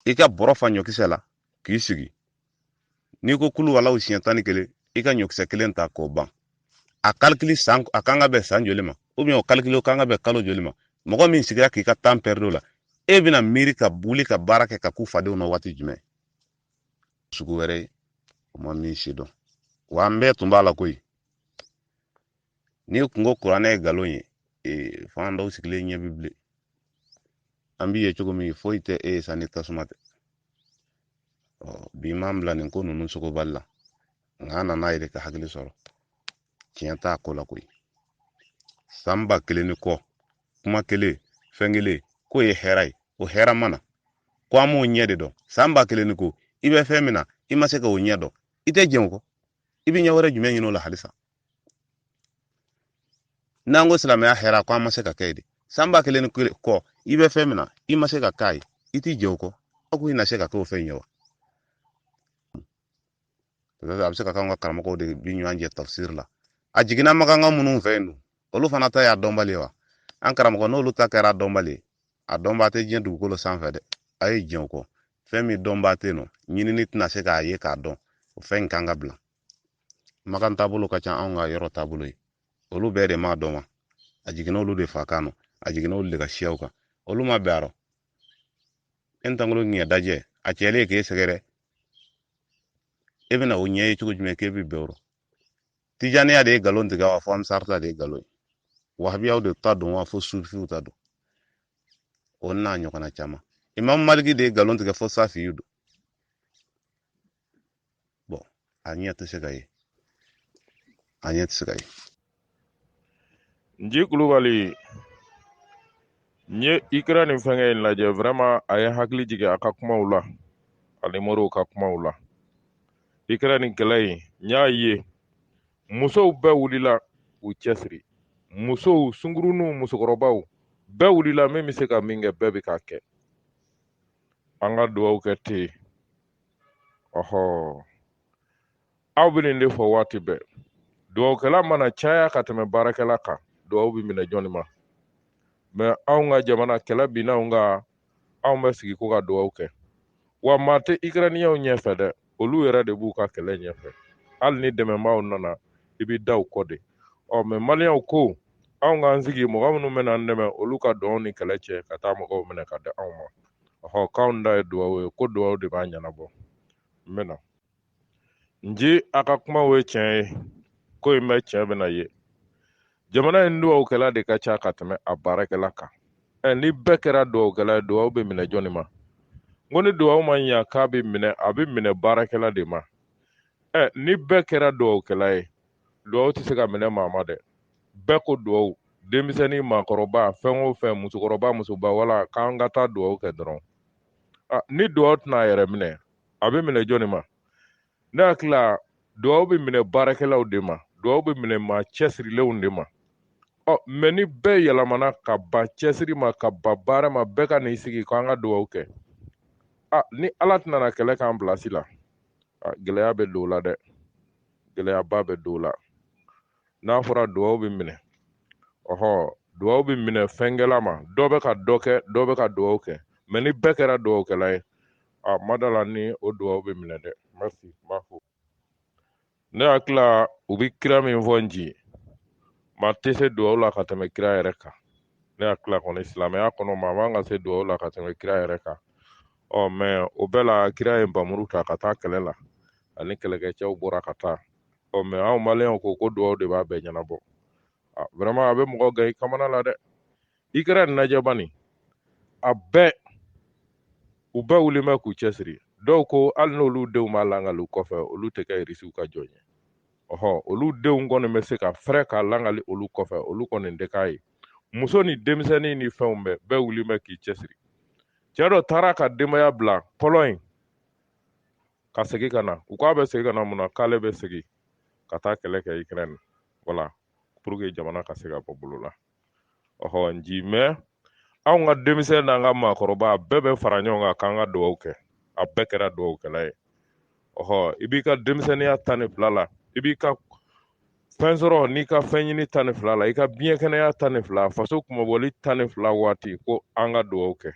i ka bɔrɔ fa ɲɔkisɛ la k'i sigi n'i ko kulu walaw siɲɛ tan ni kelen i ka ɲɔkisɛ kelen ta k'o ban a kalikili san a kan ka bɛn san joli ma ubiyɛn o kalikili o kan ka bɛn kalo joli ma mɔgɔ min sigira k'i ka tan pɛridi o la e bɛna miiri ka wuli ka baara kɛ ka kun fadenw na waati jumɛn sugu wɛrɛ ye o ma min si dɔn wa an bɛɛ tun b'a la koyi n'i kun ko kuranɛ ye nkalon ye ee fan dɔw sigilen ɲɛ bi bilen an b'i ye cogo min foyi tɛ e ye sa ni tasuma tɛ ɔ bi m'an bila nin ko ninnu sogobali la nka an nan'an yɛrɛ ka hakili sɔrɔ tiɲɛ t'a ko la koyi san ba kelen ni kɔ kuma kelen fɛn kelen k'o ye hɛrɛ ye o hɛrɛ ma na ko an m'o ɲɛ de dɔn san ba kelen ni kɔ i bɛ fɛn min na i ma se ka o ɲɛ dɔn i tɛ jɛn o kɔ i bɛ ɲɛ wɛrɛ jumɛn ɲini o la halisa n'an ko silamɛya hɛrɛ ko an ma se ka kɛ de san ba kelen ni kɔ i bɛ fɛn min na i ma se ka k'a ye i t'i jɛn o kɔ aw ko i na se ka k'o fɛn ye wa a bɛ se ka k'an ka karamɔgɔw de bi ɲɔgɔn jɛ tafsiri la a jiginna makanka minnu fɛ yen dun olu fana ta y'a dɔnbali ye wa an karamɔgɔ n'olu ta kɛra dɔnbali ye a dɔnbaa tɛ diɲɛ dugukolo sanfɛ dɛ a ye jɛn o kɔ fɛn min dɔnbaa tɛ yen nɔ ɲinini tɛna se k'a ye k'a dɔn o fɛn in kan ka bila makan taabolo ka ca anw ka yɔrɔ taabolo ye olu bɛɛ de m'a dɔn wa a jiginna olu de fakan nɔ a jiginna olu de ka siyaw kan olu ma bɛn a rɔ e tankolo ɲɛ dajɛ a cɛlen k'e sɛgɛrɛ e bɛna o ɲɛ ye cogo jumɛn k'e bɛ bɛn o rɔ tijaniya de ye nkalon tigɛ wa fo ansari ta de ye nkalon ye wahabiyaw de ta don wa fo sufiw ta don o n'a ɲɔgɔnna caman imam maliki de ye nkalon tigɛ fo safiyu don bɔn a ɲɛ tɛ se ka ye a ɲɛ tɛ se ka ye nji kulubali n ye ikirɛni fɛnkɛ in lajɛ vraiment a ye hakili jigin a ka kumaw la ani moriw ka kumaw la ikirɛni kɛlɛ in n y'a ye musow bɛɛ wulila u cɛsiri musow sunguruninw musokɔrɔbaw bɛɛ wulila min bɛ se ka min kɛ bɛɛ bɛ k'a kɛ an ka dugawu kɛ ten ɔhɔ aw bɛ nin de fɔ waati bɛɛ dugawukɛla mana caya ka tɛmɛ baarakɛla kan dugawu bɛ minɛ jɔnni ma mɛ anw ka jamana kɛlɛ binna anw kan anw bɛ sigi ko ka dugawu kɛ wa maa tɛ ikirɛniyɛnw ɲɛfɛ dɛ olu yɛrɛ de b'u ka kɛlɛ ɲɛfɛ hali ni dɛmɛbaaw nana i bɛ da u kɔ de ɔ mɛ maliyɛnw ko anw k'an sigi mɔgɔ minnu bɛna an dɛmɛ olu ka don nin kɛlɛ cɛ ka taa mɔgɔw minɛ ka di anw ma ɔhɔ k'anw da ye duwawu ye ko duwawu de b'a ɲɛnabɔ n bɛna nji a ka kuma o ye tiɲɛ ye ko in bɛ tiɲɛ bɛna ye jamana in duwawukɛla de ka ca ka tɛmɛ a baarakɛla kan ɛ ni bɛɛ kɛra duwawukɛla ye duwawu bɛ minɛ jɔnni ma n ko ni duwawu ma ɲa k'a bɛ minɛ a bɛ minɛ baarakɛla de ma ɛ ni bɛɛ kɛra duwawukɛla ye duwawu tɛ se ka minɛ maa ma dɛ bɛɛ ko dugawu denmisɛnnin maakɔrɔba fɛn o fɛn musokɔrɔba musoba wala k'an ka taa dugawu kɛ dɔrɔn ah, ni dugawu tɛna a yɛrɛ minɛ a bɛ minɛ jɔnni ma ne hakili la dugawu bɛ minɛ baarakɛlaw de ma dugawu bɛ minɛ maa cɛsirilenw de ma ɔ oh, mɛ ni bɛɛ yɛlɛmana ka ban cɛsiri ma ka ban baara ma bɛɛ ka n'i sigi k'an ka dugawu kɛ a ah, ni ala tɛna na kɛlɛ k'an bilasi la ah, gɛlɛya bɛ don o la dɛ gɛlɛyaba bɛ don o la n'a fɔra duwawu bɛ minɛ ɔhɔ duwawu bɛ minɛ fɛnkɛla ma dɔ bɛ ka dɔ kɛ dɔ bɛ ka duwawu kɛ mɛ ni bɛɛ kɛra duwawukɛla ye a n ma da a la ni o duwawu bɛ minɛ dɛ merci n b'a fo ne hakili la u bɛ kira min fɔ nji maa tɛ se duwawu la ka tɛmɛ kira yɛrɛ kan ne hakili la kɔni silamɛya kɔnɔ maa man ka se duwawu la ka tɛmɛ kira yɛrɛ kan ɔ mɛ o bɛɛ la kira ye npamuru ta ka taa kɛlɛ la ani kɛlɛkɛcɛw bɔra ka taa ɔ mɛ anw maliyɛnw ko ko duwaw de b'a bɛɛ ɲɛnabɔ ah, vraiment a bɛ mɔgɔ gan i kamana la dɛ ikirɛni lajɛ bani a bɛɛ u bɛɛ wulilen bɛ k'u cɛsiri dɔw ko hali n'olu denw b'a langali kɔfɛ olu tɛ kɛ irisiw ka jɔn ye ɔhɔ olu denw kɔni bɛ se ka fɛrɛ k'a langali olu kɔfɛ olu kɔni tɛ k'a ye muso ni denmisɛnnin ni fɛnw bɛɛ bɛɛ wulilen bɛ k'i cɛsiri cɛ dɔ taara ka denbaya bila pɔlɔɲi ka segin ka na u k'a bɛ segin ka na mun na k'ale bɛ segin ka taa kɛlɛ kɛ ikirɛni wala pour que jamana ka se ka bɔ bolo la ɔhɔ nji mɛ anw ka denmisɛn n'an ka maakɔrɔba a bɛɛ bɛ fara ɲɔgɔn kan k'an ka dugawu kɛ a bɛɛ kɛra dugawukɛla ye ɔhɔ i b'i ka denmisɛnninya tan ni fila la i b'i ka fɛn sɔrɔ n'i ka fɛn ɲini tan ni fila la i ka biɲɛ kɛnɛya tan ni fila faso kunmabɔli tan ni fila waati ko an ka dugawu kɛ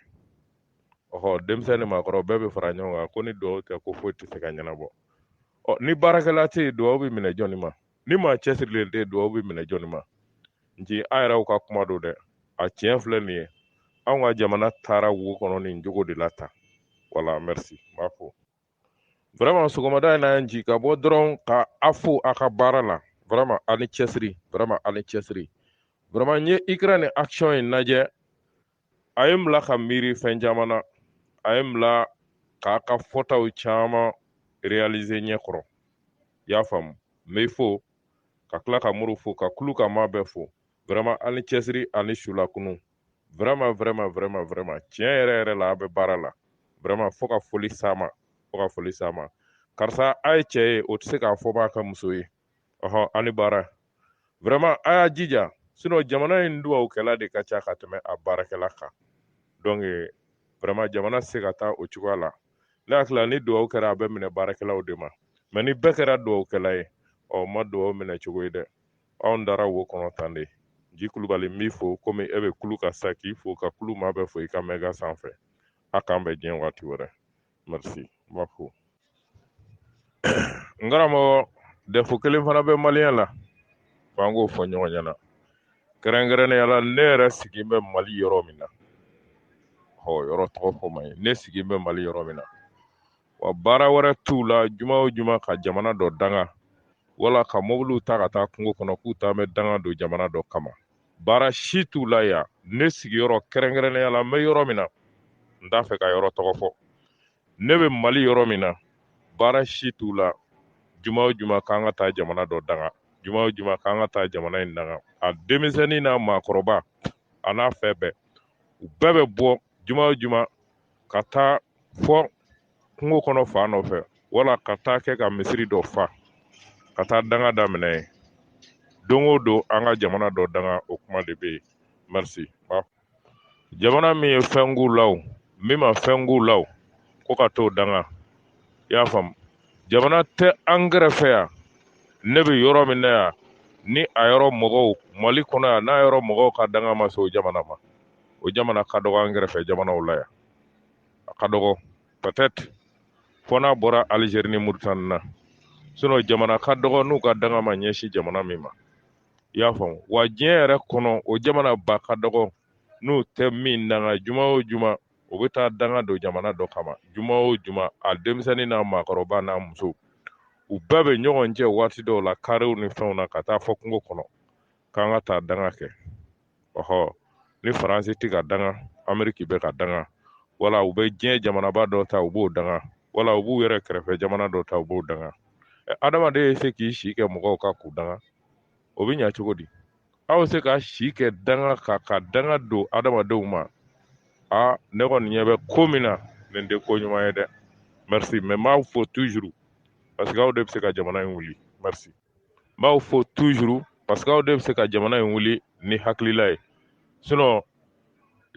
ɔhɔ denmisɛn ni maakɔrɔ bɛɛ bɛ fara ɲɔgɔn kan ko ni dugawu tɛ ko foyi tɛ se ka ɲɛnabɔ ɔ ni baarakɛla tɛ yen dugawu bɛ minɛ jɔnni ma ni maa cɛsirilen tɛ yen dugawu bɛ minɛ jɔnni ma nji a yɛrɛw ka kuma don dɛ a tiɲɛ filɛ nin ye anw ka jamana taara wo kɔnɔ nin jogo de la tan wala merci n b'a fo vraiment sɔgɔmada in na yan nji ka bɔ dɔrɔn ka a fo a ka baara la vraiment a ni cɛsiri vraiment a ni cɛsiri vraiment n ye ikirɛni action in lajɛ a ye n bila ka miiri fɛn caman na a ye n bila k'a ka fɔtaw caman réaliser ɲɛ kɔrɔ y'a faamu n bɛ fo ka tila ka muru fo ka kulu ka maa bɛɛ fo vraiment ani cɛsiri ani sulakunu vraiment vraiment vraiment vraiment tiɲɛ yɛrɛ yɛrɛ la a bɛ baara la vraiment fo ka foli s'a ma fo ka foli s'a ma karisa a ye cɛ ye o tɛ se k'a fɔ b'a ka muso ye ɔhɔ ani baara vraiment a y'a jija sinon jamana in duwawukɛla de ka ca ka tɛmɛ a baarakɛla kan donc vraiment jamana tɛ se ka taa o cogoya la ne hakili la ni duwawu kɛra a bɛ minɛ baarakɛlaw de ma mais ni bɛɛ kɛra duwawukɛla ye ɔ ma duwawu minɛ cogo ye dɛ anw dara wo kɔnɔ tan de ji kulubali n b'i fo komi e bɛ kulu ka sa k'i fo ka kulu maa bɛɛ fo i ka mɛga sanfɛ a k'an bɛn diɲɛ waati wɛrɛ merci n b'a fo n karamɔgɔ défaut kelen fana bɛ maliyɛn la f'an k'o fɔ ɲɔgɔn ɲɛna kɛrɛnkɛrɛnnenya la ne yɛrɛ sigilen bɛ mali yɔrɔ min na ɔ yɔrɔ tɔgɔ fɔ man ɲi ne sigilen bɛ mali yɔrɔ min na wa baara wɛrɛ t'u la juma o juma ka jamana dɔ danga wala ka mobiliw ta ka taa kungo kɔnɔ k'u taa bɛ danga don jamana dɔ kama baara si t'u la yan ne sigiyɔrɔ kɛrɛnkɛrɛnnenya la n bɛ yɔrɔ min na n t'a fɛ ka yɔrɔ tɔgɔ fɔ ne bɛ mali yɔrɔ min na baara si t'u la juma o juma k'an ka taa jamana dɔ danga juma o juma k'an ka taa jamana in danga a denmisɛnnin n'a maakɔrɔba a n'a fɛn bɛɛ u bɛɛ bɛ bɔ juma o juma ka taa fɔ kungo kɔnɔ fan dɔ fɛ wala ka taa kɛ ka misiri dɔ fa ka taa danga daminɛ yen don o don an ka jamana dɔ danga o kuma de bɛ yen merci jamana min ye fɛn k'u la o min ma fɛn k'u la o ko ka t'o danga i y'a faamu jamana tɛ an kɛrɛfɛ yan ne bɛ yɔrɔ min na yan ni a yɔrɔ mɔgɔw mali kɔnɔ yan n'a yɔrɔ mɔgɔw ka danga ma se o jamana ma o jamana ka dɔgɔ an kɛrɛfɛ jamanaw la yan a ka dɔgɔ peut-être fɔ n'a bɔra Algérie ni Mauritanie na sinon jamana ka dɔgɔ n'u ka danga ma ɲɛsin jamana min ma i y'a faamu wa diɲɛ yɛrɛ kɔnɔ o jamana ba ka dɔgɔ n'u tɛ min danga juma o juma o bɛ taa danga don jamana dɔ kama juma o juma a denmisɛnnin n'a maakɔrɔba n'a muso u bɛɛ bɛ ɲɔgɔn cɛ waati dɔw la karew ni fɛnw na ka taa fɔ kungo kɔnɔ k'an ka taa danga kɛ ɔhɔ ni faransi tɛ ka danga ameriki bɛ ka danga wala u bɛ diɲɛ jamanaba dɔ ta u b'o danga wala u b'u yɛrɛ kɛrɛfɛ jamana dɔ ta u b'o danga adamaden ye se k'i si kɛ mɔgɔw ka k'u danga o bɛ ɲa cogo di aw bɛ se ka si kɛ danga ka danga don adamadenw ma a ne kɔni ɲɛ bɛ ko min na nin tɛ ko ɲuman ye dɛ merci mais n b'aw fo toujours parce que aw de bɛ se ka jamana in wuli merci n b'aw fo toujours parce que aw de bɛ se ka jamana in wuli ni hakilila ye sinon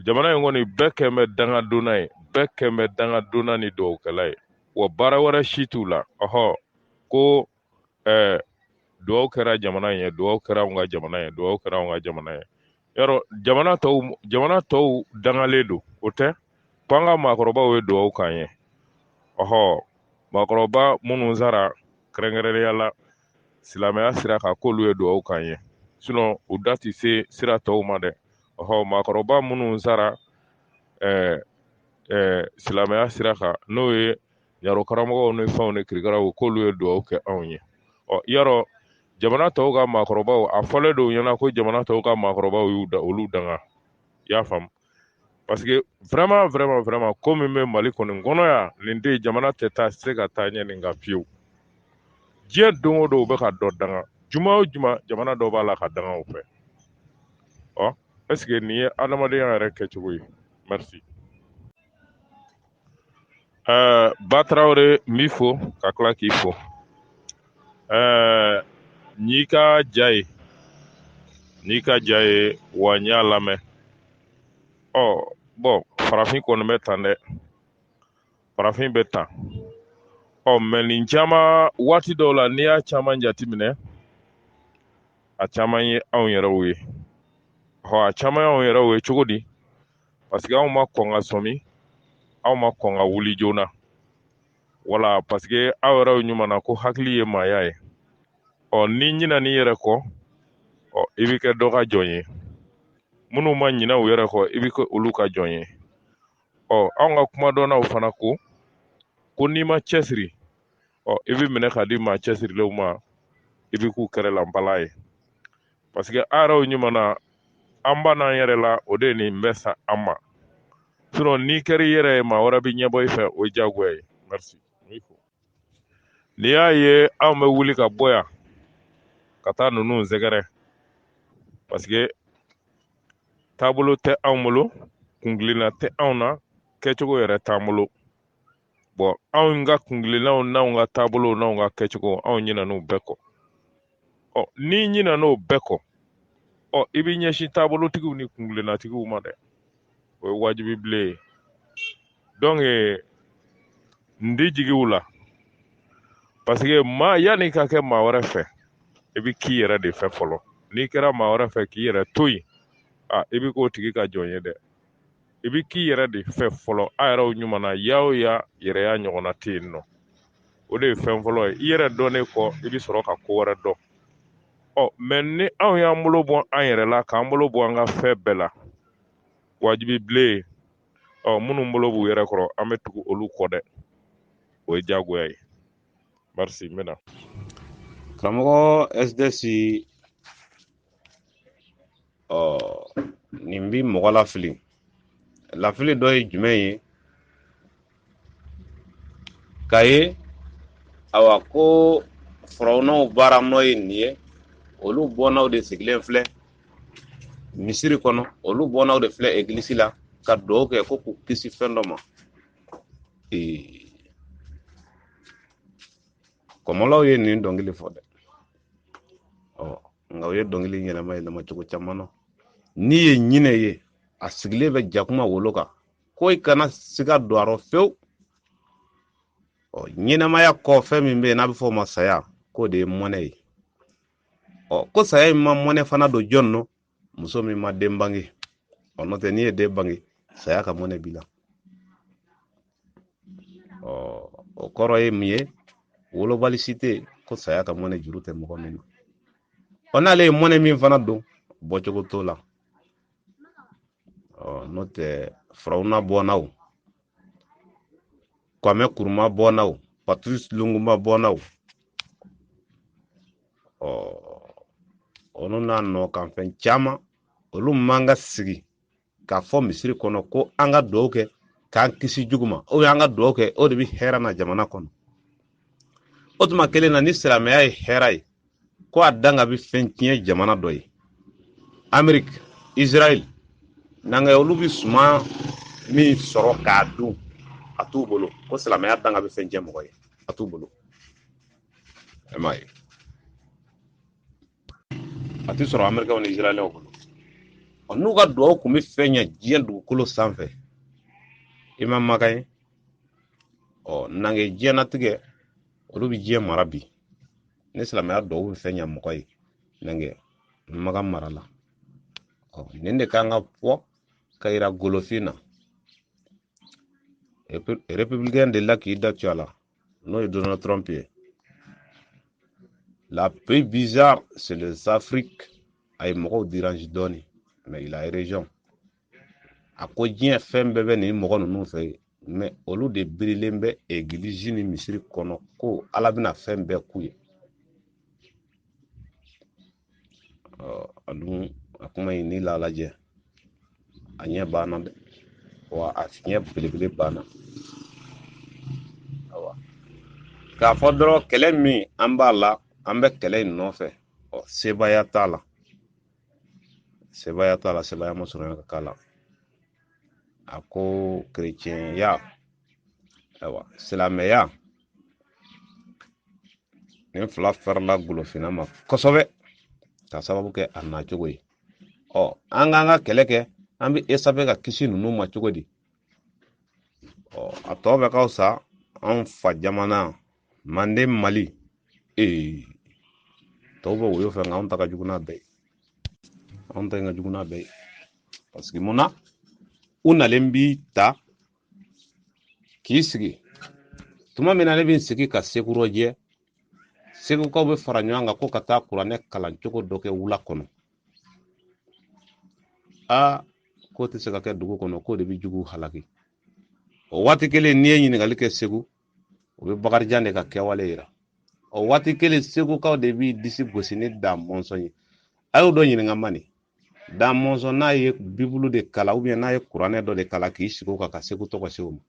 jamana in kɔni bɛɛ kɛn bɛ dangadonna ye bɛɛ kɛn bɛ dangadonna ni dugawukɛla ye wa baara wɛrɛ si t'u la ɔhɔ ko ɛɛ dugawu kɛra jamana in ye dugawu kɛra anw ka jamana ye dugawu kɛra anw ka jamana ye yɔrɔ jamana tɔw jamana tɔw dangalen don o tɛ ko an ka maakɔrɔbaw ye dugawu k'an ye ɔhɔ maakɔrɔba minnu sara kɛrɛnkɛrɛnnenya la silamɛya sira kan k'olu ye dugawu k'an ye sinon u da tɛ se sira tɔw ma dɛ ɔhɔ maakɔrɔba minnu sara ɛɛ ɛɛ silamɛya sira kan n'o ye yarɔ karamɔgɔw ni fɛnw ni kirikaraw k'olu ye dugawu kɛ anw ye ɔ yarɔ jamana tɔw ka maakɔrɔbaw a fɔlen don ɲɛna ko jamana tɔw ka maakɔrɔbaw y'u da olu danga i y'a faamu parce que vraiment vraiment vraiment ko min bɛ mali kɔni kɔnɔ yan nin de jamana tɛ taa se ka taa ɲɛ nin kan fiyewu diɲɛ don o don u bɛ ka dɔ danga juma o juma jamana dɔ b'a la ka danga u fɛ ɔ est ce que nin ye adamadenya yɛrɛ kɛcogo ye merci ɛɛ ba tarawele n b'i fo ka tila k'i fo ɛɛ n'i ka ja ye n'i ka ja ye wa n y'a lamɛn ɔ bon farafin kɔni bɛ tan dɛ farafin bɛ tan ɔ mais nin caman waati dɔw la n'i y'a caman jateminɛ a caman ye anw yɛrɛw ye hɔ a caman ye anw yɛrɛw ye cogo di parce que anw ma kɔn ka sɔmi anw ma kɔn ka wuli joona wala parce que aw yɛrɛw ɲuman na ko hakili ye maaya ye ɔ n'i ɲinan'i yɛrɛ kɔ ɔ i bɛ kɛ dɔ ka jɔn ye minnu ma ɲina u yɛrɛ kɔ i bɛ kɛ olu ka jɔn ye ɔ anw ka kuma dɔnnaw fana ko ko n'i ma cɛsiri ɔ i bɛ minɛ ka di maa cɛsirilenw ma i bɛ k'u kɛrɛlanbala ye parce que a yɛrɛw ɲuman na an bann'an yɛrɛ la o de ye nin bɛɛ s'an ma sinon n'i kɛra i yɛrɛ ye maa wɛrɛ bɛ ɲɛbɔ i fɛ o ye diyagoya ye merci n'i y'a ye anw bɛ wuli ka bɔ yan ka taa ninnu sɛgɛrɛ parce que taabolo tɛ anw bolo kungilenna tɛ anw na kɛcogo yɛrɛ t'an bolo bon anw ka kungilennaw n'anw ka taabolow n'anw ka kɛcogo anw ɲinan'u bɛɛ kɔ ɔ n'i ɲinan'o bɛɛ kɔ ɔ i b'i ɲɛsin taabolotigiw ni kungilennatigiw ma dɛ o ye wajibi bilen ye donc n di jigiw la parce que maa yann'i ka kɛ maa wɛrɛ fɛ i bɛ k'i yɛrɛ de fɛ fɔlɔ n'i kɛra maa wɛrɛ fɛ k'i yɛrɛ to yen a i bɛ k'o tigi ka jɔn ye dɛ i bɛ k'i yɛrɛ de fɛ fɔlɔ a yɛrɛw ɲuman na ya o ya yɛrɛya ɲɔgɔnna tɛ yen nɔ o de ye fɛn fɔlɔ ye i yɛrɛ dɔnnen kɔ i bɛ sɔrɔ ka ko wɛrɛ dɔn ɔ mais ni anw y'an bolo bɔ an yɛrɛ la k'an bolo bɔ an ka fɛn bɛɛ la wajibi bilen ɔ minnu bolo b'u yɛrɛ kɔrɔ an bɛ tugu olu kɔ dɛ o ye diyagoya ye merci n bɛna karamɔgɔ sds ɔ nin bi mɔgɔ lafili lafili dɔ ye jumɛn ye k'a ye awa ko farawunaw baara nɔ ye nin ye olu bɔnnaw de sigilen filɛ misiri kɔnɔ olu bɔnnaw de filɛ egilisi la ka dugawu kɛ ko k'u kisi fɛn dɔ ma ee kɔmɔlaw ye nin dɔnkili fɔ dɛ ɔ nka u ye dɔnkili yɛlɛma yɛlɛma cogo caman na n'i ye ɲinɛ ye a sigilen bɛ jakuma wolo kan ko i kana siga don a rɔ fewu ɔ ɲɛnɛmaya kɔ fɛn min bɛ yen n'a bɛ fɔ o ma saya k'o de ye mɔnɛ ye ɔ ko saya in ma mɔnɛ fana don jɔn nɔ muso min ma den bange ɔ n'o tɛ n'i ye den bange saya ka mɔnɛ b'i la ɔ o kɔrɔ ye mun ye wolobali si tɛ ko saya ka mɔnɛ juru tɛ mɔgɔ min na ɔ n'ale ye mɔnɛ min fana don bɔcogo t'o la ɔ n'o tɛ farawuna bɔnnaw kwame kuruma bɔnna o patrice lumumba bɔnna o ɔ olu n'a nɔ kan fɛn caman olu man ka sigi k'a fɔ misiri kɔnɔ ko an ka dugawu kɛ k'an kisi jugu ma ou bien an ka dugawu kɛ o de bɛ hɛrɛ na jamana kɔnɔ o tuma kelen na ni silamɛya ye hɛrɛ ye ko a danga bi fɛn tiɲɛ jamana dɔ ye ameriki israel nanga olu bi suma min sɔrɔ k'a dun a t'u bolo ko silamɛya danga bi fɛn tiɲɛ mɔgɔ ye a t'u bolo e m'a ye a ti sɔrɔ amerikɛw ni israɛlɛw bolo ɔ n'u ka duwawu kun be fɛn ɲɛ diɲɛ dugukolo sanfɛ i ma makan ye ɔ nange diɲɛnatigɛ olu bi diɲɛ mara bi ni silamɛya dugawu bɛ fɛn ɲa mɔgɔ ye nange makan mara la ɔ nin de kan ka fɔ ka yira golofin na républicain de la k'i da tu a la n'o ye donald trump ye la plus bizarre c'est les afrique a ye mɔgɔw dérange dɔɔni mais il a raison a ko diɲɛ fɛn bɛɛ bɛ nin mɔgɔ ninnu fɛ mɛ olu de birilen bɛ egilizi ni misiri kɔnɔ ko ala bɛna fɛn bɛɛ k'u ye a dun a kuma in ni la lajɛ a fiɲɛ b'an na dɛ wa a fiɲɛ belebele b'an na awa k'a fɔ dɔrɔn kɛlɛ min an b'a la an bɛ kɛlɛ in nɔfɛ ɔ sebaaya t'a la sebaaya t'a la sebaaya ma sɔrɔ ka k'a la a ko kerecɛnya ayiwa silamɛya nin fila farila golofinna ma kosɛbɛ ka sababu kɛ a nacogo ye ɔ an k'an ka kɛlɛ kɛ an bɛ échapper ka kisi ninnu ma cogo di ɔ a tɔ bɛɛ ka fisa anw fa jamana manden mali ee tɔw bɛ woyo fɛ nka anw ta ka jugu n'a bɛɛ ye anw ta in ka jugu n'a bɛɛ ye parce que mun na u nalen b'i ta k'i sigi tuma min na ne bɛ n sigi ka segu rɔjɛ segukaw bɛ fara ɲɔgɔn kan ko ka taa kuranɛ kalan cogo dɔ kɛ wula kɔnɔ aa k'o tɛ se ka kɛ dugu kɔnɔ k'o de bɛ juguw halaki o waati kelen n'i ye ɲininkali kɛ segu u bɛ bakarijan de ka kɛwale yira o waati kelen segukaw de b'i disi gosi ni da mɔnsɔn ye a y'o dɔ ɲininka man nin da mɔnsɔn n'a ye bibulu de kalan ou bien n'a ye kuranɛ dɔ de kalan k'i sigi o kan ka segu tɔgɔ se o ma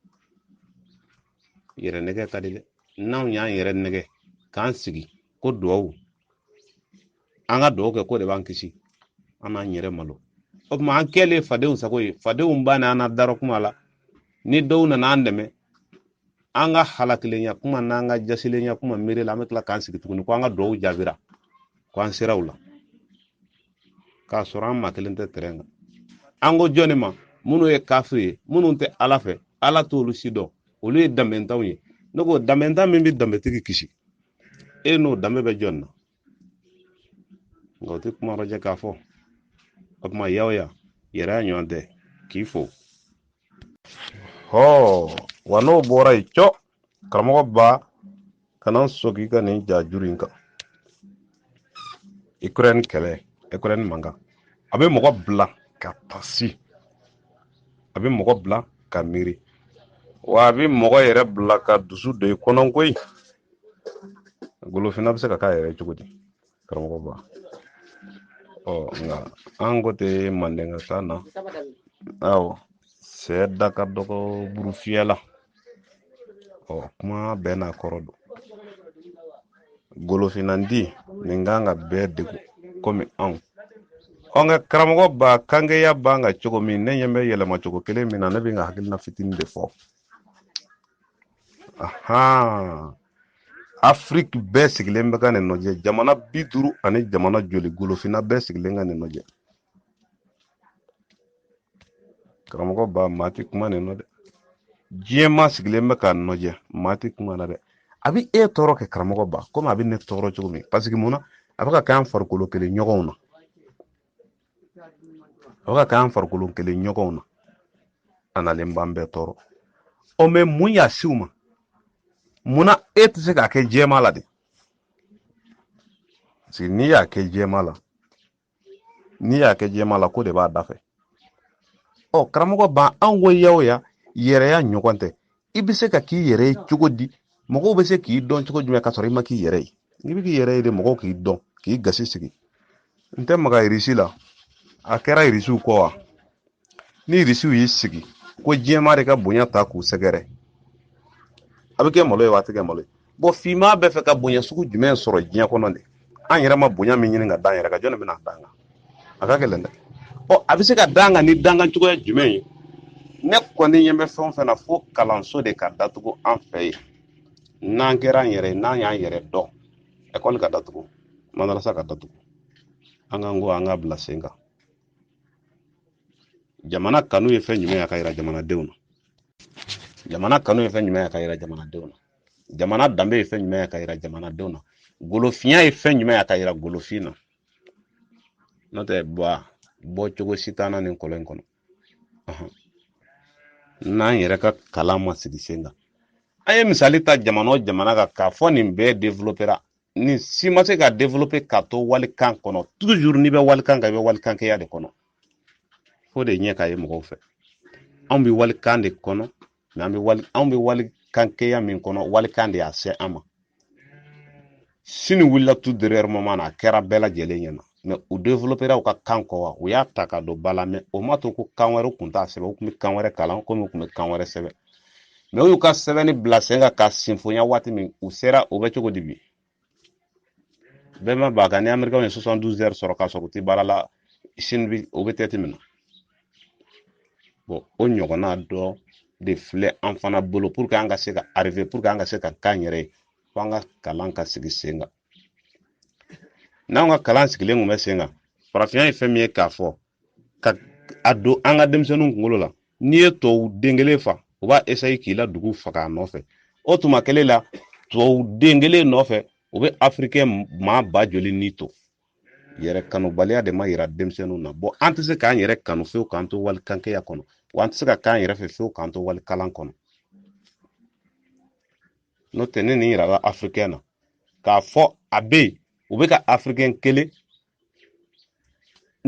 yɛrɛ nɛgɛn ka di dɛ n'anw y'an yɛrɛ nɛgɛn k'an sigi ko duwawu an ka dugawu kɛ k'o de b'an kisi an n'an yɛrɛ malo o tuma an kɛlen fadenw sago ye fadenw ba ni an na darɔ kuma la ni dɔw nana an dɛmɛ an ka halakilenya kuma n'an ka jasilenya kuma miiri la an bɛ tila k'an sigi tuguni ko an ka dugawu jaabira ko an sera u la k'a sɔrɔ an maa kelen tɛ tɛrɛn kan an ko jɔnni ma minnu ye kafiri ye minnu tɛ ala fɛ ala t'olu si dɔn olu ye danbentanw ye ne ko danbentan min bɛ danbetigi kisi e n'o danbe bɛ jɔn na nka u tɛ kuma rɔjɛ k'a fɔ o tuma yaw ya yɛrɛ y'a ɲɔgɔn tɛ k'i fo hɔɔ wa n'o bɔra yen cɔ karamɔgɔba kana sɔn k'i ka nin ja juru in kan ukraine kɛlɛ ukraine mankan a bɛ mɔgɔ bila ka tasi a bɛ mɔgɔ bila ka miiri wa a bɛ mɔgɔ yɛrɛ bila ka dusu don i kɔnɔ koyi golofina bɛ se ka k'a yɛrɛ cogo di karamɔgɔ ba ɔ nka an ko tɛ mandenka kan na awɔ sɛ da ka dɔgɔ burufiyɛ la ɔ kuma bɛɛ n'a kɔrɔ don golofinandi nin kan ka bɛɛ degun komi anw ɔ nka karamɔgɔ ba kangeya b'an kan cogo min ne ɲɛ bɛ yɛlɛma cogo kelen min na ne bɛ n ka hakilina fitinin de fɔ afiriki bɛɛ sigilen bɛ ka nin nɔjɛ jamana bi duuru ani jamana joli golofinna bɛɛ sigilen ka nin nɔjɛ karamɔgɔ ba maa tɛ kuma nin nɔ dɛ diɲɛ maa sigilen bɛ ka nɔjɛ maa tɛ kuma na dɛ a bɛ e tɔɔrɔ kɛ karamɔgɔ ba komi a bɛ ne tɔɔrɔ cogo min parce que mun na a bɛ ka kɛ an farikolo kelen ɲɔgɔnw na o ka k'an farikolo kelen ɲɔgɔnw na a nalen b'an bɛɛ tɔɔrɔ ɔ mɛ mun y'a se u ma munna e tɛ se k'a kɛ jɛma la de parce que n'i y'a kɛ jɛma la n'i y'a kɛ jɛma la ko de b'a dafɛ ɔ karamɔgɔ ba anw ko ya o ya yɛrɛya ɲɔgɔn tɛ i bɛ se ka k'i yɛrɛ ye cogo di mɔgɔw bɛ se k'i dɔn cogo jumɛn ka sɔrɔ i ma k'i yɛrɛ ye n'i bɛ k'i yɛrɛ ye de mɔgɔw k'i dɔn k'i gasi sigi n tɛ maga irisi la a kɛra irisiw kɔ wa ni irisiw y'i sigi ko diɲɛmaa de ka bonya ta k'u sɛgɛrɛ a bɛ kɛ malo ye wa a tɛ kɛ malo ye bɔn finman bɛ fɛ ka bonya sugu jumɛn sɔrɔ diɲɛ kɔnɔ de an yɛrɛ ma bonya min ɲini ka d'an yɛrɛ kan jɔn bɛna d'an kan a ka gɛlɛn dɛ ɔ a bɛ se ka d'an kan ni d'an kan cogoya jumɛn ye ne kɔni ɲɛ bɛ fɛn o fɛn na fo kalanso de ka datugu an fɛ yen n'an kɛra an yɛrɛ n'an y'an yɛrɛ dɔn ekɔli ka datugu madarasa ka datugu an k'an ko an ka bila sen kan jamana kanu ye fɛn jumɛn ye a ka yira jamanadenw na jamana kanu ye fɛn jumɛn ye a ka yira jamanadenw na jamana danbe ye fɛn jumɛn ye a ka yira jamanadenw na golofinya ye fɛn jumɛn ye a ka yira golofin na n'o tɛ bɔa bɔ cogo si t'an na nin kɔlɔn in kɔnɔ n'an yɛrɛ ka kalan ma sigi sen kan an ye misali ta jamana o jamana kan k'a fɔ nin bɛɛ développera nin si ma se ka développer ka to walikan kɔnɔ toujours n'i bɛ walikan kan i bɛ walikankɛya de kɔnɔ fo de ɲɛ ka ye mɔgɔw fɛ anw bɛ walikan de kɔnɔ mɛ an bɛ wali anw bɛ walikankɛya min kɔnɔ walikan de y'a se an ma sini wulila tout dernier moment na a kɛra bɛɛ lajɛlen ɲɛna mɛ u développera u ka kan kɔ wa u y'a ta ka don ba la mɛ o ma to ko kan wɛrɛ tun t'a sɛbɛn u tun bɛ kan wɛrɛ kalan komi u tun bɛ kan wɛrɛ sɛbɛn mɛ u y'u ka sɛbɛnni bila sen kan ka sinfonya waati min u sera o bɛ cogo di bi bɛɛ ma b'a kan ni americain ye 72 heures sɔrɔ k'a sɔrɔ u tɛ baara la sini bi o bɛ tɛti min na bon o ɲɔgɔnna dɔ de filɛ an fana bolo pour que an ka se ka arriver pour que an ka se ka k'an yɛrɛ ye fo an ka kalan ka sigi sen kan n'an ka kalan sigilen tun bɛ sen kan farafinya ye fɛn min ye k'a fɔ k'a don an ka denmisɛnninw kunkolo la n'i ye tubabu den kelen fa u b'a esayi k'i la dugu faga a nɔfɛ o tuma kelen la tubabu den kelen nɔfɛ u bɛ afirikɛn maa ba joli ni to yɛrɛ kanubaliya de ma yira denmisɛnninw na bɔn an tɛ se k'an yɛrɛ kanu fewu k'an to wali kankɛya kɔnɔ wa an tɛ se ka k'an yɛrɛ fɛ fewu k'an to wali kalan kɔnɔ n'o tɛ ni nin yirala afirikɛn na k'a fɔ a bɛ yen u bɛ ka afirikɛn kelen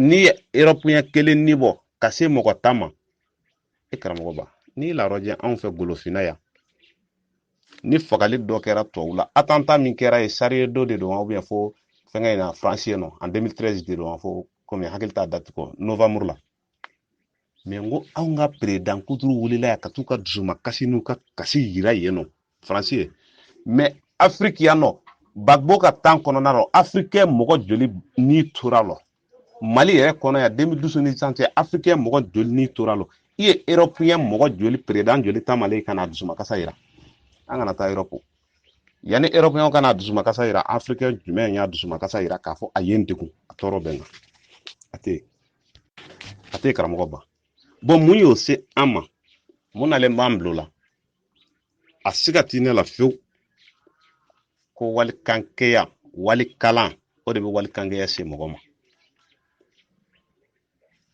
n'i ye erɔpiyɛn kelen ni bɔ ka se mɔgɔ tan ma e karamɔgɔ ba n'i larɔjɛ anw fɛ golofinna yan ni fagali dɔ kɛra tɔw la attentat min kɛra yen charlie hebdo de don wa ubiyɛn fo fɛngɛ in na faransi yen nɔ en 2013 de don wa fo komi hakili t'a dati kɔ novamuru la mɛ n ko anw ka peredan kuturu wulila yan ka t'u ka dusuma kasi n'u ka kasi yira yen nɔ faransi ye mɛ afiriki yan nɔ gbagbo ka tan kɔnɔna nɔ afirikɛn mɔgɔ joli ni tora lɔ mali yɛrɛ kɔnɔ yan 2012 ni sisan cɛ afirikɛn mɔgɔ joli ni tora lɔ i ye erɔpiyɛn mɔgɔ joli peredan joli taamalen ka n'a dusuma kasi yira an kana taa erɔpu yanni erɔpiyɛnw ka na dusuma kasi yira afirikɛn jumɛn y'a dusuma kasi yira k'a fɔ a ye n degun a tɔɔrɔ bɛ n kan a tɛ yen a tɛ karamɔgɔ ba bɔn mun y'o se an ma mun nalen b'an bil'o la a siga tɛ ne la fewu ko walikankɛya walikalan o de bɛ walikankɛya se mɔgɔ ma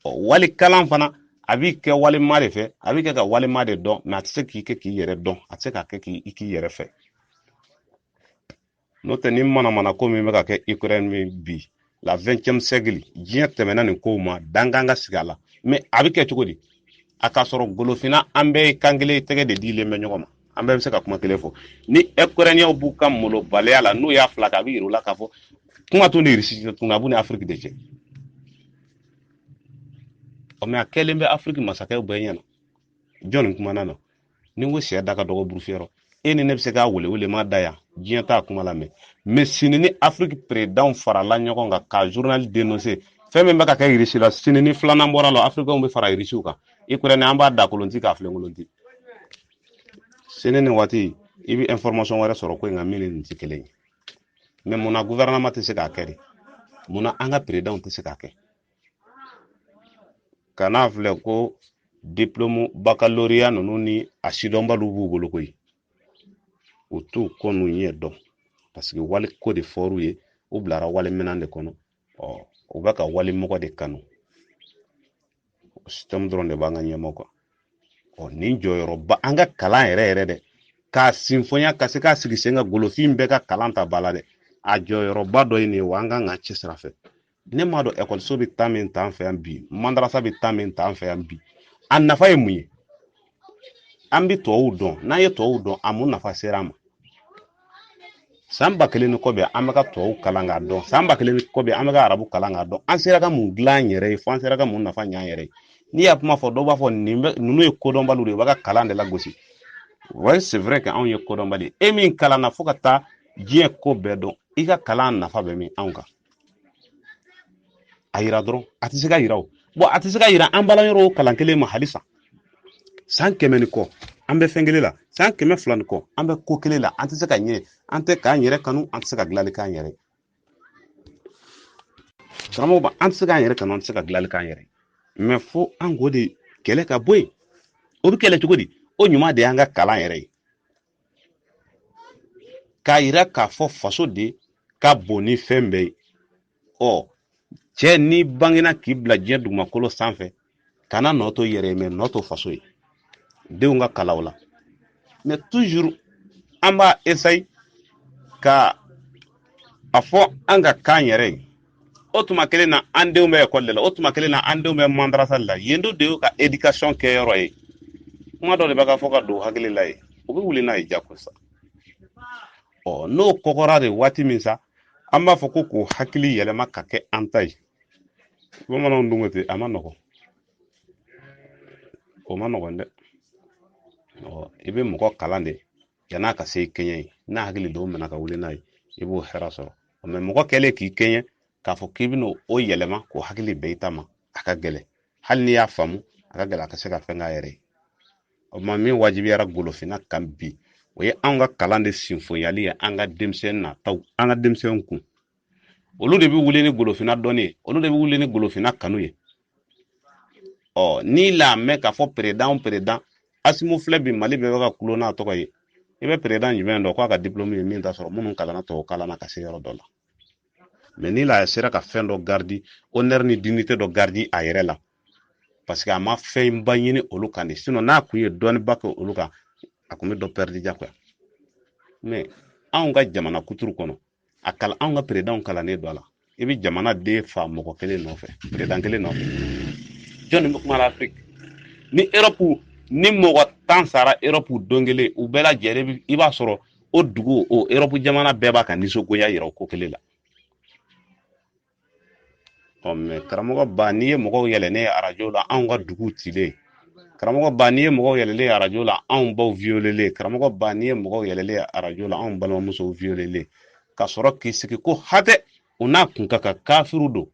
ɔ walikalan fana a b'i kɛ wali maa de fɛ a b'i kɛ ka wali maa de dɔn mɛ a tɛ se k'i kɛ k'i yɛrɛ dɔn a tɛ se k'a kɛ k'i k'i yɛrɛ fɛ n'o tɛ ni manamana ko min bɛ ka kɛ ukraine min bi la 20e siècle diɲɛ tɛmɛna nin kow ma dankan ka sigi a la mais a bɛ kɛ cogo di a ka sɔrɔ golofina an bɛɛ ye kan kelen tɛgɛ de dilen bɛ ɲɔgɔn ma an bɛɛ bɛ se ka kuma kelen fɔ ni ukrainiens b'u ka malobaliya la n'u y'a fila kɛ a bɛ yir'u la k'a fɔ kuma t'u ni irisi cɛ tuguni a b'u ni afiriki de cɛ ɔ mɛ a kɛlen bɛ afiriki masakɛw bɛɛ ɲɛna jɔnni kumana na ni n ko syɛ da ka dɔgɔ buru fiyɛ rɔ e ni ne bɛ se k'a wele wele ma da yan diɲɛ t'a kuma lamɛn mɛ sini ni afiriki peredanw farala ɲɔgɔn kan ka journal denonse fɛn min bɛ ka kɛ irisi la sini ni filanan bɔra la afirikɛnw bɛ fara irisiw kan ukraine an b'a daa kolon ti k'a filen kolon ti sini nin waati i bɛ information wɛrɛ sɔrɔ ko in kan min ni nin tɛ kelen ye mɛ munna guvɛrɛnama tɛ se k'a kɛ de munna an ka peredanw tɛ se k'a kɛ kan'a filɛ ko diplôme baccalauréat ninnu ni a sidɔnbaliw b'u bolo koyi u t'u kɔ n'u ɲɛ dɔn parce que wali ko de fɔr'u ye u bilara wali minɛn de kɔnɔ ɔ u bɛ ka wali mɔgɔ de kanu système dɔrɔn de b'an ka ɲɛmɔgɔ kan ɔ nin jɔyɔrɔba an ka kalan yɛrɛ yɛrɛ dɛ k'a sinfonya ka se k'a sigi sen kan golofin bɛɛ ka kalan ta bala dɛ a jɔyɔrɔba dɔ ye nin ye wa an kan ka cɛsir'a fɛ ne m'a dɔn ekɔliso bɛ taa min ta an fɛ yan bi madarasa bɛ taa min ta an fɛ yan bi a nafa ye mun ye an bɛ tubabuw dɔn n'an ye tubabuw dɔn a mun nafa sera an ma san ba kelen ni kɔ bɛ an bɛ ka tubabu kalan k'a dɔn san ba kelen ni kɔ bɛ an bɛ ka arabu kalan k'a dɔn an sera ka mun dilan an yɛrɛ ye fo an sera ka mun nafa ɲɛ an yɛrɛ ye n'i y'a kuma fɔ dɔw b'a fɔ nin bɛ ninnu ye kodɔnbaliw de ye u b'a ka kalan de lagosi oui c'est vrai que anw ye kodɔnbali e min kalanna fo ka taa diɲɛ ko bɛɛ dɔn i ka kalan nafa bɛ min anw kan a yira dɔrɔn a tɛ se ka yira o bon a tɛ se ka yira an balan yɔrɔ kalan kelen ma halisa san kɛmɛ ni kɔ an bɛ fɛn kelen la san kɛmɛ fila ni kɔ an bɛ ko kelen la an tɛ se ka ɲɛ an tɛ k'an yɛrɛ kanu an tɛ se ka dilanli k'an yɛrɛ karamɔgɔ ba an tɛ se k'an yɛrɛ kanu an tɛ se ka dilanli k'an yɛrɛ mais fo an k'o de kɛlɛ ka bɔ yen o bɛ kɛlɛ cogo di o ɲuman de y'an ka kalan yɛrɛ ye k'a yira k'a fɔ faso de ka bon ni fɛn bɛɛ ye ɔ cɛ n'i bangena k'i bila diɲɛ dugumakolo sanfɛ kana nɔ to yɛrɛ ye mais nɔ to faso ye denw ka kalaw la mais toujours an b'a essayer ka a fɔ an ka kan yɛrɛ ye o tuma kelen na an denw bɛ ekɔli de la o tuma kelen na an denw bɛ mandarasa de la yen do de y'u ka éducation kɛ yɔrɔ ye kuma dɔ de bɛ ka fɔ ka don u hakili la yen u bɛ wuli n'a ye jako sa ɔ n'o kɔgɔra de waati min sa an b'a fɔ ko k'o hakili yɛlɛma ka kɛ an ta ye bamananw dun ko ten a man nɔgɔn o man nɔgɔn dɛ ɔ i bɛ mɔgɔ kalan de yan'a ka se kɛɲɛ ye n'a hakili dɔw minɛ ka wuli n'a ye i b'o hɛrɛ sɔrɔ mais mɔgɔ kɛlen k'i kɛɲɛ k'a fɔ k'i bɛna o yɛlɛma k'o hakili bɛn i ta ma a ka gɛlɛn hali n'i y'a faamu a ka gɛlɛn a ka se ka fɛn k'a yɛrɛ ye o tuma min wajibiyara golofinna kan bi o ye anw ka kalan de sinfonyali ye an ka denmisɛnnin nataw an ka denmisɛnninw kun olu de bɛ wuli ni golofinna dɔnni ye olu de bɛ wuli ni golofinna kanu ye ɔ n'i l'a mɛn k'a fɔ président président asimu filɛ bi mali bɛɛ bɛ ka kulo n'a tɔgɔ ye i bɛ président jumɛn dɔn k'a ka diplôme ye min t'a sɔrɔ minnu kalanna tubabu kalan na ka se yɔrɔ dɔ la mais n'i la sera ka fɛn dɔ garder honneur ni dignité dɔ garder a yɛrɛ la parce que a ma fɛnba ɲini olu kan de sinon n'a kun ye dɔɔniba kɛ olu kan a kun bɛ dɔ pɛridi jagoya mais anw ka jamana kuturu kɔnɔ a kalan anw ka peredanw kalannen don a la i bɛ jamana den fa mɔgɔ kelen nɔfɛ peredan kelen nɔfɛ jɔnni bɛ kuma la afiriki ni erɔpu ni mɔgɔ tan sara erɔpu don kelen u bɛɛ lajɛlen i b'a sɔrɔ o dugu o erɔpu jamana bɛɛ b'a ka nisɔngoya yira o ko kelen la karamɔgɔ ba n'i ye mɔgɔw yɛlɛnnen ye arajo la anw ka dugu cilen karamɔgɔ ba n'i ye mɔgɔw yɛlɛlen ye arajo la anw baw wiyolelen karamɔgɔ ba n'i ye mɔgɔw yɛlɛlen ye arajo la anw balimamusow wiyolelen ka sɔrɔ k'i sigi ko hatɛ u n'a kun ka kan kafiriw don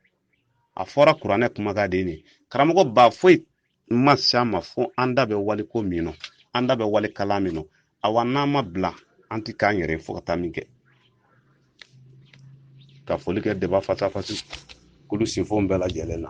a fɔra kuranɛ kumakan de ye karamɔgɔ ba foyi n ma se a ma fo an da bɛ waliko min nɔ an da bɛ wali kalan min nɔ awa n'an ma bila an ti k'an yɛrɛ fo ka taa min kɛ ka foli kɛ deba fasafasi kulu sinfon bɛɛ lajɛlen na